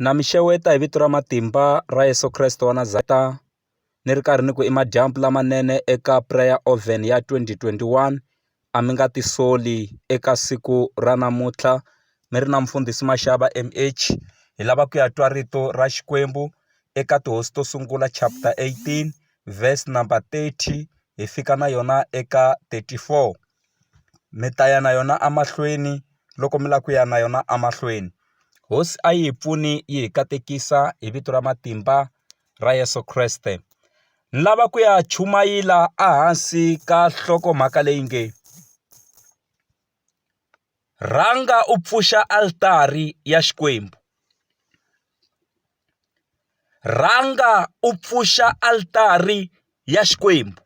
Na mi xeweta hi vito ra matimba ra Yeso Kreste wa Nazareta ni ri karhi ni ku i madyambu lamanene eka prayer oven ya 2021 a mi nga tisoli eka siku ra namuntlha mi ri na mfundhisi Mashava M_H hi lava ku ya twa rito ra Xikwembu eka tihosi to sungula chapter 18 verse number 30 hi fika na yona eka 34. mi ta ya na yona emahlweni loko mi lava ku ya na yona emahlweni hosi a yi hi pfuni yi hi katekisa hi vito ra matimba ra Yeso Kreste ni lava ku ya chumayela ehansi ka nhlokomhaka leyi nge rhanga u pfuxa altari ya Xikwembu rhanga u pfuxa altari ya Xikwembu.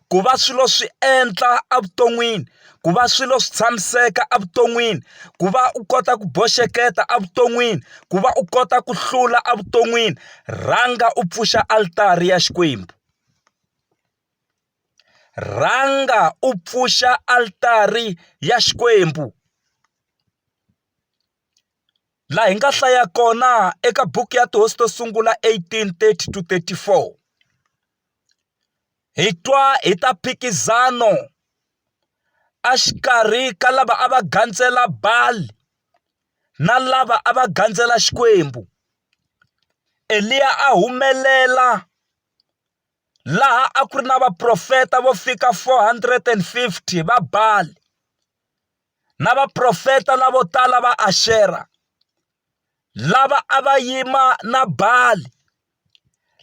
ku va swilo swi endla evuton'wini ku va swilo swi tshamiseka evuton'wini ku va u kota ku boxeketa evuton'wini ku va u kota ku hlula evuton'wini rhanga u pfuxa alitari ya Xikwembu rhanga u pfuxa alitari ya Xikwembu. laha hi nga hlaya kona eka buku ya tihosi to sungula eighteen thirty to thirty four hi twa hi ta mphikizano a xikarhi ka lava a va gandzela Baal na lava a va gandzela Xikwembu Eliya a humelela laha a ku ri na vaprofeta vo fika four hundred and fifty va Baal. na vaprofeta lavo tala va Axera lava a va yima na Bali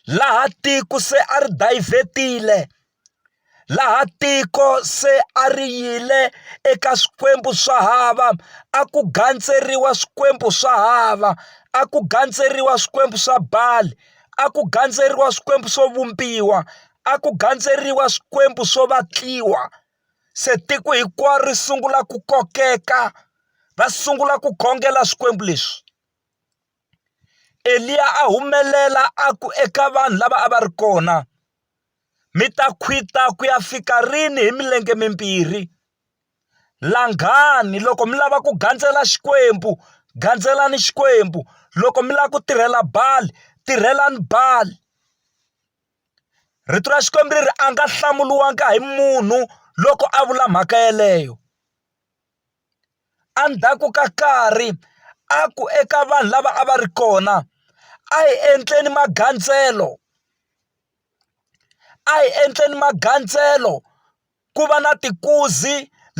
laha tiko se a ri dayivhetile laha tiko se a ri yile eka swikwembu swa hava a ku gandzeriwa swikwembu swa hava a ku gandzeriwa swikwembu swa Bali a ku gandzeriwa swikwembu swo vumbiwa a ku gandzeriwa swikwembu swo vatliwa. Se tiko hinkwaro ri sungula ku kokeka va sungula ku khongela swikwembu leswi Eliya a humelela a ku eka vanhu lava a va ri kona mi ta khwita ku ya fika rini hi milenge mimbirhi langani loko mi lava ku gandzela Xikwembu gandzelani Xikwembu loko mi lava ku tirhela Bali tirhelani Bali. Rito ra Xikwembu ri ri a nga hlamuriwanga hi munhu loko a vula mhaka yeleyo endzhaku ka nkarhi a ku eka vanhu lava a va ri kona a hi endleni magandzelo a hi endleni magandzelo ku va na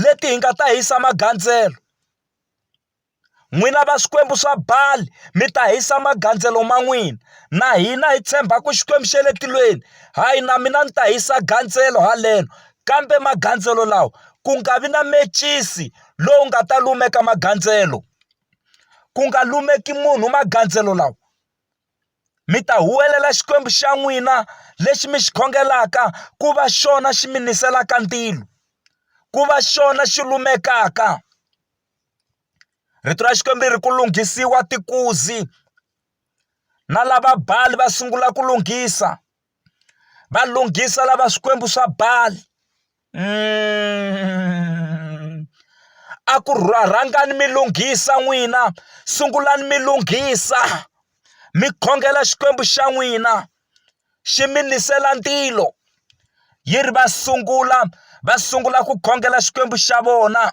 leti hi nga ta hisa magandzelo. N'wina va swikwembu swa Bali, mi ta hisa magandzelo ma n'wina. Na hina hi tshemba ku Xikwembu xa le tilweni, hayi na mina ni ta hisa gandzelo haleno. Kambe magandzelo lawa, ku nga vi na mecisi lowu nga ta lumeka magandzelo. Ku nga lumeki munhu magandzelo lawa. Mi ta huwelela Xikwembu xa n'wina lexi mi xi khongelaka ku va xona xi mi niselaka ndzilo, ku va xona xi lumekaka. Rito ra Xikwembu ri ri ku lunghisiwa tikuzi na lava Bali va sungula ku lunghisa va lunghisa lava swikwembu swa Bali a ku rhangani mi lunghisa n'wina sungulani mi lunghisa mi khongela xikwembu xa n'wina xi mi nisela ndzilo yi ri va sungula va sungula ku khongela xikwembu xa vona.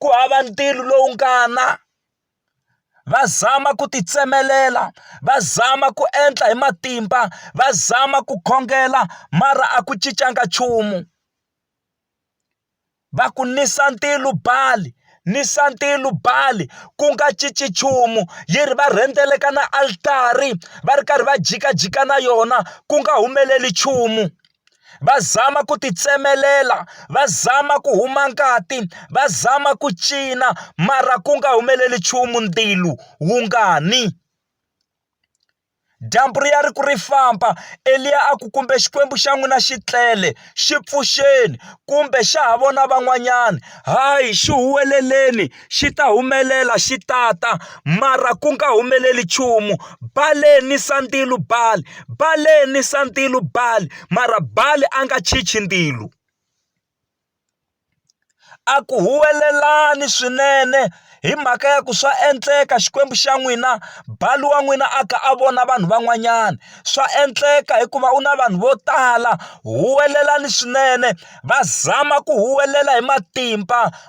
ku hava ntirho lowu nga na va zama ku ti tsemelela va zama ku endla hi matimba va zama ku khongela mara a ku cincanga nchumu va ku nisa ntilo bali nisa ntilo bali ku nga cinci nchumu yi ri va rhendzeleka ka na altari va ri karhi va jikajika na yona ku nga humeleli nchumu. va zama ku ti tsemelela va zama ku huma ngati va zama ku cina mara ku nga humeleli nchumu ndzilo wu nga ni dyambu ri ya ri ku ri famba Eliya a ku kumbe Xikwembu xa n'wina xi tlele xi pfuxeni kumbe xa ha vona van'wanyana hayi xi huweleleni. xi ta humelela xi tata mara ku nga humeleli nchumu baleni sandzilu bali baleni sandzilu bali mara bali a nga chichi ndzilo a ku huwelelani swinene hi mhaka ya ku swa endleka xikwembu xa n'wina bali wa n'wina a kha a vona vanhu van'wanyana swa endleka hikuva u na vanhu vo tala huwelelani swinene va zama ku huwelela hi matimba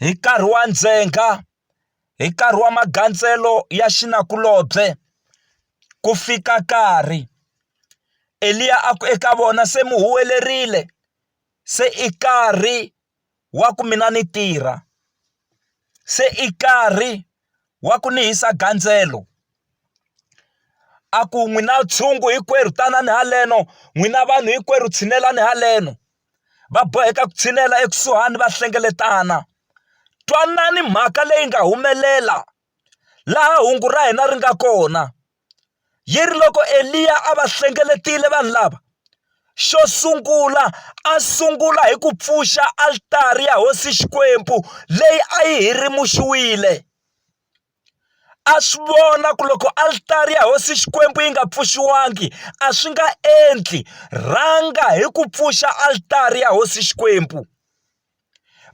hi nkarhi wa ndzhenga, hi nkarhi wa magandzelo ya xinakulobye, ku fika nkarhi Eliya a ku eka vona se mi huwelerile se i nkarhi wa ku mina ni tirha se i nkarhi wa ku ni hisa gandzelo a ku n'wina ntshungu hinkwerhu tanani haleno n'wina vanhu hinkwerhu tshinelani haleno. va boheka ku tshinela ekusuhani va hlengeletana twanani mhaka leyi nga humelela laha hungu ra hina ri nga kona yi ri loko Eliya a va hlengeletile vanhu lava xo sungula a sungula hi ku pfuxa altari ya hosi Xikwembu leyi a yi hirimuxiwile. a swi vona ku loko alitari ya hosi xikwembu yi nga pfuxiwangi a swi nga endli rhanga hi ku pfuxa alitari ya hosi xikwembu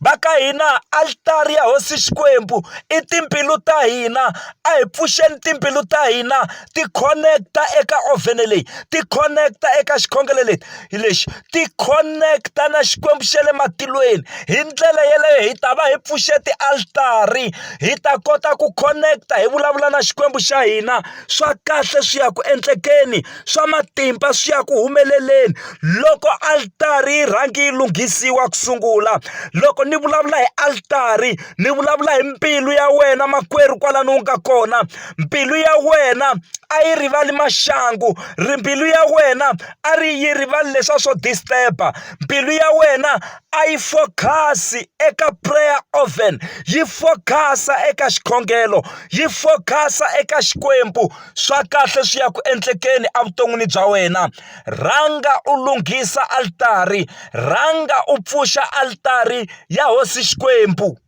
va ka hina alitari ya hosi xikwembu i timbilu ta hina a hi pfuxeni timbilu ta hina ti connect-a eka ovhene leyi ti connect-a eka xikhongelo lexi lexi ti khoneketa na Xikwembu xa le matilweni hi ndlela yeleyo hi ta va hi pfuxe tialitari hi ta kota ku khoneketa hi vulavula na Xikwembu xa hina swa kahle swi ya ku endlekeni swa matimba swi ya ku humeleleni loko alitari yi rhangi yi lunghisiwa ku sungula loko ni vulavula hi alitari ni vulavula hi mbilu ya wena makwerhu kwalano u nga kona. mbilu ya wena a yi rivali maxangu ri mbilu ya wena a ri yi rivali leswa swo disturb-a mbilu ya wena a yi focus-i eka prayer oven yi focus-a eka xikhongelo yi focus-a eka Xikwembu swa kahle swi ya ku endlekeni evuton'wini bya wena rhanga u lunghisa altari rhanga u pfuxa altari ya hosi Xikwembu.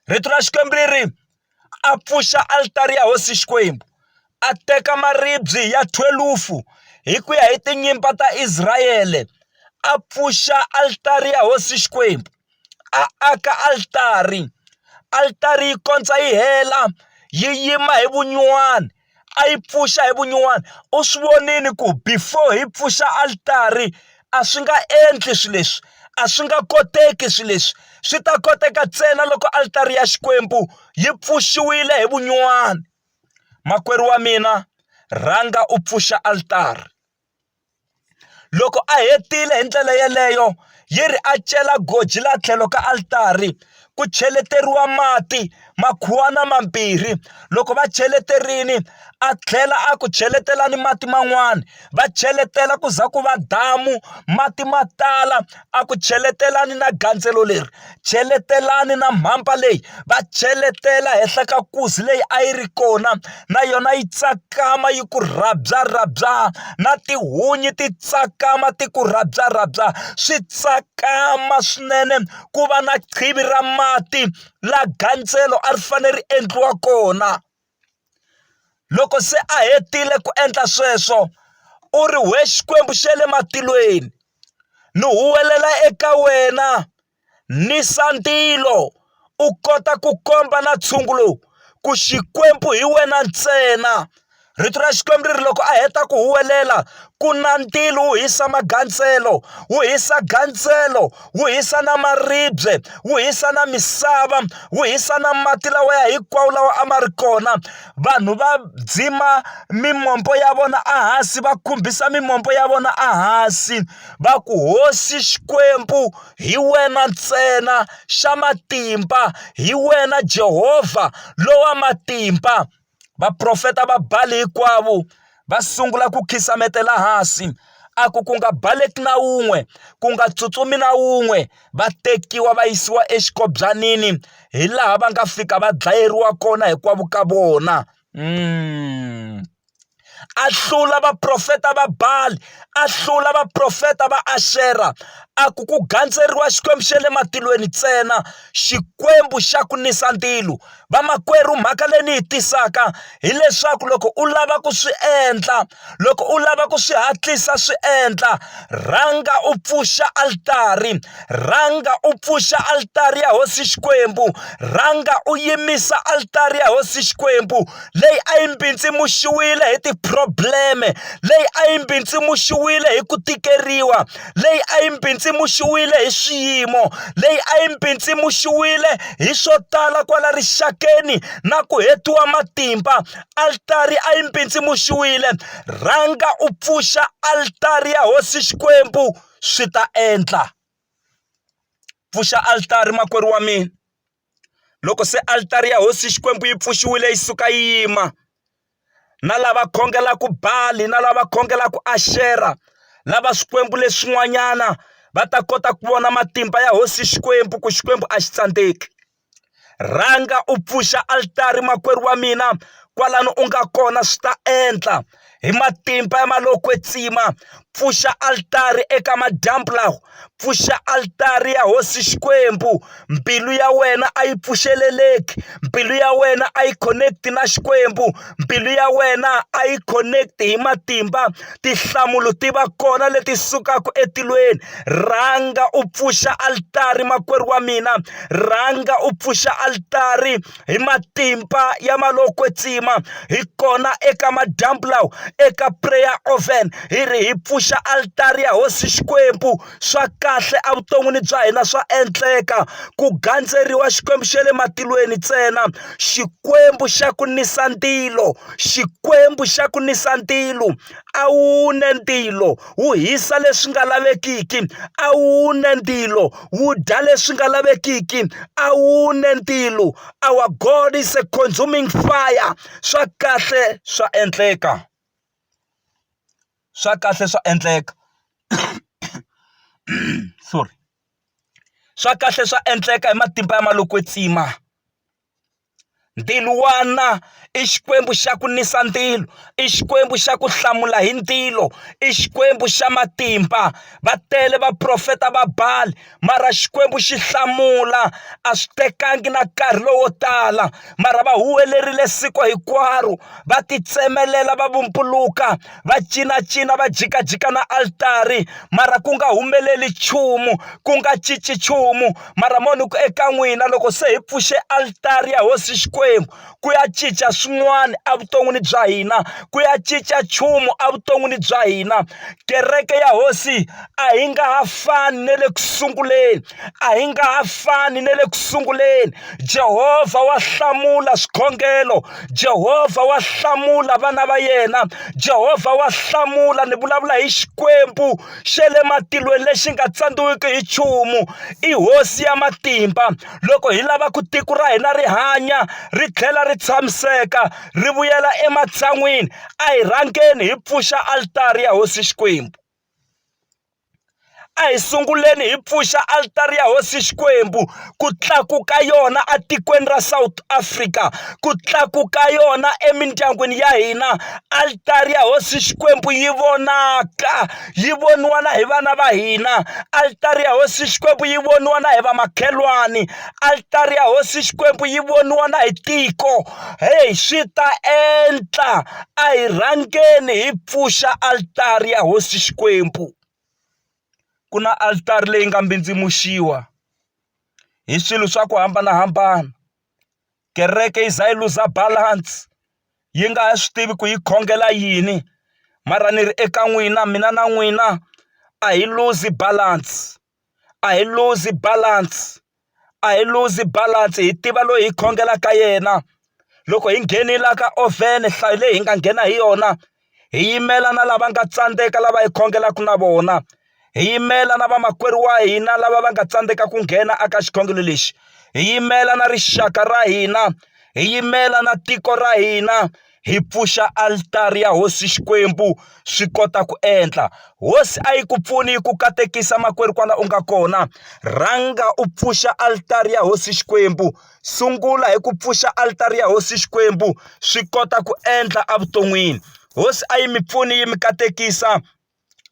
rito ra Xikwembu ri ri a pfuxa alitari ya hosi Xikwembu a teka maribye ya thwelufu hi ku ya hi tinyimpa ta Israel a pfuxa alitari ya hosi Xikwembu a aka alitari alitari yi kondza yi hela yi yima hi vunyuwani. a yi pfuxa hi vunyuwana u swi vonile ku before hi pfuxa altari a swi nga endli swilo leswi a swi nga koteki swilo leswi swi ta koteka ntsena loko altari ya Xikwembu yi pfuxiwile hi vunyuwana makwerhu wa mina rhanga u pfuxa altari. Loko a hetile hi ndlela yeleyo, yi ri a cela goji laha tlhelo ka altari ku cheleteriwa mati makhuwana mambirhi loko va cheleterile a tlhela a ku cheletela ni mati man'wani va cheletela ku za ku va damu mati ma tala. a ku cheletelani na gandzelo leri cheletelani na mhamba leyi va cheletela henhla ka nkuzi leyi a yi ri kona na yona yi tsakama yi ku rhabya rhabya na tihunyi ti tsakama ti ku rhabya rhabya swi tsakama swinene ku va na qhivi ra mati la gandzelo a ri fanele ri endliwa kona. Loko se a hetile ku endla sweswo, u ri, We Xikwembu xa le matilweni, ni huwelela eka wena ni sandilo, u kota ku komba na ntshungu lowu ku Xikwembu hi wena ntsena. Rito ra Xikwembu ri ri loko a heta ku huwelela, ku na ndilo wu hisa magandzelo, wu hisa gandzelo. wu hisa na maribye wu hisa na misava wu hisa na mati lawa ya hinkwawo lawa a ma ri kona vanhu va dzima mimombo ya vona ehansi va khumbisa mimombo ya vona ehansi va ku hosi xikwembu hi wena ntsena xa matimba hi wena Jehova lowa matimba. Vaprofeta va Bali hinkwavo va sungula ku khisametela hansi, a ku, Ku nga baleki na wun'we, ku nga tsutsumi na wun'we! Va tekiwa va yisiwa exikobyanini, hi laha va nga fika va dlayeriwa kona hinkwavo ka vona. Mm. a hlula vaprofeta va Bali a hlula vaprofeta va Ashera a ku ku gandzeriwa xikwembu xa le matilweni ntsena xikwembu xa ku nisa ntilu vamakwerhu mhaka leyi ni yi tisaka hileswaku loko u lava ku swi endla loko u lava ku swi hatlisa swi endla rhanga u pfuxa altari Rhanga u pfuxa alitari ya hosi Xikwembu. Rhanga u yimisa alitari ya hosi Xikwembu leyi a yi mbindzimuxiwile hi tiphrobleme, leyi a yi mbindzimuxiwile hi ku tikeriwa, leyi a yi mbindzimuxiwile hi swiyimo, leyi a yi mbindzimuxiwile hi swo tala kwala rixakeni na ku hetiwa matimba. Alitari a yi mbindzimuxiwile. Rhanga u pfuxa alitari ya hosi Xikwembu. swi ta endla pfuxa altari makwerhu wa mina loko se altari ya hosi Xikwembu yi pfuxiwile yi suka yi yima na lava khongelaka Bali na lava khongelaka Ashera lava swikwembu leswin'wanyana va ta kota ku vona matimba ya hosi Xikwembu ku Xikwembu a xi tsandzeki. Rhanga u pfuxa altari makwerhu wa mina kwalano u nga kona swi ta endla hi matimba ya ma lo kwetsima pfuxa altari eka madyambu lawa pfuxa altari ya hosi Xikwembu mbilu ya wena a yi pfuxeleleki mbilu ya wena a yi connect na Xikwembu. mbilu ya wena a yi connect hi matimba tinhlamulo ti va kona leti sukaka etilweni rhanga u pfuxa altari makwerhu wa mina rhanga u pfuxa altari hi matimba ya malokwetsima hi kona eka madyambu lawa eka prayer oven hi ri hi pfuxa altari ya hosi xikwembu swa kahle evuton'wini bya hina swa endleka ku gandzeriwa xikwembu xa le matilweni ntsena xikwembu xa ku nisa ntilo xikwembu xa ku nisa ntilo a wu ne ntilo wu hisa leswi nga lavekiki a wu ne ntilo wu dya leswi nga lavekiki a wu ne ntilo our God is a consuming fire swa kahle swa endleka swa kahle swa endleka sorry swa kahle swa endleka hi matimba ya malokwetsima ndhiluwana i xikwembu xa ku nisa ndilo i xikwembu xa ku hlamula hi ndilo i xikwembu xa matimba va tele vaprofeta va bali mara Xikwembu xi hlamula a swi tekangi na nkarhi lowo tala mara va huwelerile siku hinkwaro va titsemelela va vumbuluka va cinacina va jikajika na altari mara ku nga humeleli nchumu ku nga cinci nchumu mara mo ni ku eka n'wina loko se hi pfuxe altari ya hosi Xikwembu. ku ya cinca swin'wana evuton'wini bya hina ku ya cinca nchumu evuton'wini bya hina kereke ya hosi a yi nga ha fani na le ku sunguleni a yi nga ha fani na le ku sunguleni Jehovha wa hlamula swikhongelo Jehovha wa hlamula vana va yena Jehovha wa hlamula ni vulavula hi Xikwembu xa le matilweni lexi nga tsandziwiki hi nchumu i hosi ya matimba loko hi lava ku tiko ra hina ri hanya ri tlhela ri tshamiseka ri vuyela ematshan'wini a hi rhangeni hi pfuxa alitari ya hosi Xikwembu a hi sunguleni hi pfuxa alitari ya hosi Xikwembu ku tlakuka yona etikweni ra South Africa ku tlakuka yona emindyangwini ya hina alitari ya hosi Xikwembu yi vonaka. yi voniwa na hi vana va hina altari ya hosi xikwembu yi voniwa na hi vamakhelwani altari ya hosi xikwembu yi voniwa na hi tiko heyi swi ta endla a hi rhangeni hi pfuxa altari ya hosi xikwembu ku na altari leyi nga mbindzimuxiwa hi swilo swa ku hambanahambana kereke yi za yi luza balance yi nga ha swi tivi ku yi khongela yini mara ni ri eka n'wina mina na n'wina a hi luzi balance a hi luzi balance a hi luzi balance hi tiva loyi hi khongelaka yena loko hi nghenile ka oven nhlayo leyi hi nga nghena hi yona hi yimela na lava nga tsandzeka lava hi khongelaka na vona hi yimela na vamakwerhu wa hina lava va nga tsandzeka ku nghena aka xikhongelo lexi hi yimela na rixaka ra hina hi yimela na tiko ra hina hi pfuxa alitari ya hosi xikwembu swi kota ku endla hosi a yi ku pfuni yi ku katekisa makwerhu kwala u nga kona rhanga u pfuxa alitari ya hosi xikwembu. sungula hi ku pfuxa alitari ya hosi Xikwembu swi kota ku endla evuton'wini hosi a yi mi pfuni yi mi katekisa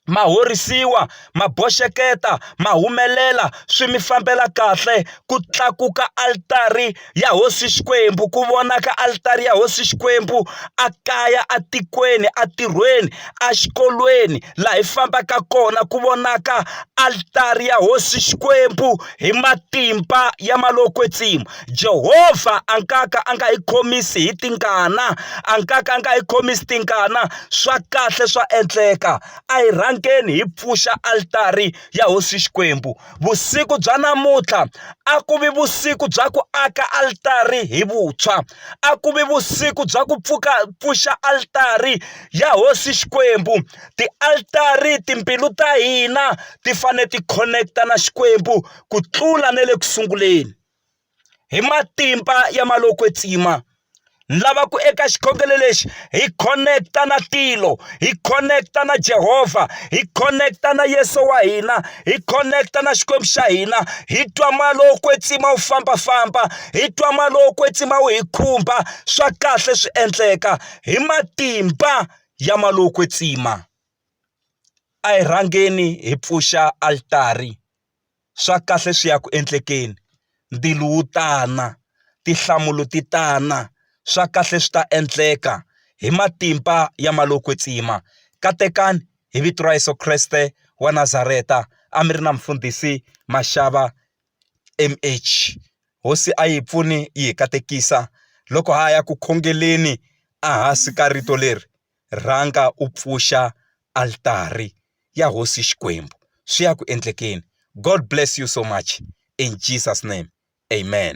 ma horisiwa ma boxeketa ma humelela swi mi fambela kahle ku tlakuka alitari ya hosi Xikwembu ku vonaka alitari ya hosi Xikwembu a kaya etikweni entirhweni exikolweni laha hi fambaka kona ku vonaka alitari ya hosi Xikwembu. Hi matimba ya malokwe-tsima, Jehova a nga ka a nga hi khomisi hi tingana, a nga ka a nga hi khomisi tingana. Swa kahle swa endleka. A hi rhangeni hi pfuxa alitari ya Hosi Xikwembu. Vusiku bya namuntlha a ku vi vusiku bya ku aka alitari hi vuntshwa, a ku vi vusiku bya ku pfuka pfuxa alitari ya Hosi Xikwembu. Ti-altari, timbilu ta hina ti fanele ti khoneketa na Xikwembu ku tlula na le ku sunguleni. Hi matimba ya ma lo kwetsima ni lava ku eka xikhongelo lexi hi khoneketa na tilo hi khoneketa na Jehovha hi khoneketa na Yesu wa hina hi khoneketa na Xikwembu xa hina hi twa ma lo kwetsima wu fambafamba hi twa ma lo kwetsima wu hi khumba swa kahle swi endleka hi matimba ya malokwe tsima, a hi rhangeni hi pfuxa altari, swa kahle swi ya ku endlekeni, ndilo wu tana, tinhlamulo ti tana, swa kahle swi ta endleka, hi matimba ya malokwe tsima, katekani, hi vito ra Yesu Kreste wa Nazareta, a mi ri na Mfundhisi Mashava. MH, Hosi a yi pfuni yi hi katekisa, loko ha ha ya ku khongeleni ehansi ka rito leri, Rhanga u pfuxa altari ya Hosi Xikwembu, swi ya ku endlekeni. God bless you so much in Jesus name, Amen.